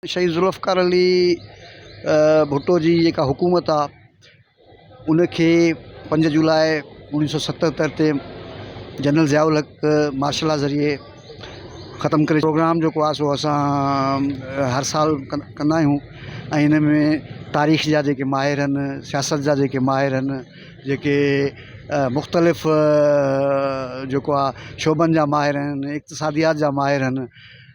شهيد ذوالفقار علي ڀٽو جي جيڪا حڪومت آ ان کي پنج جولاء اوڻيھ سو ستهتر تي general Zia ul Haq martial law ذريعي ختم ڪري پروگرام جيڪو آ سو اسان هر سال ڪندا آهيون ۽ ان ۾ تاريخ جا جيڪي ماهر ان سياست جا جيڪي ماهر ان جيڪي مختلف جيڪو آ شعبن جا ماهر ان اقتصاديات جا ماهر ان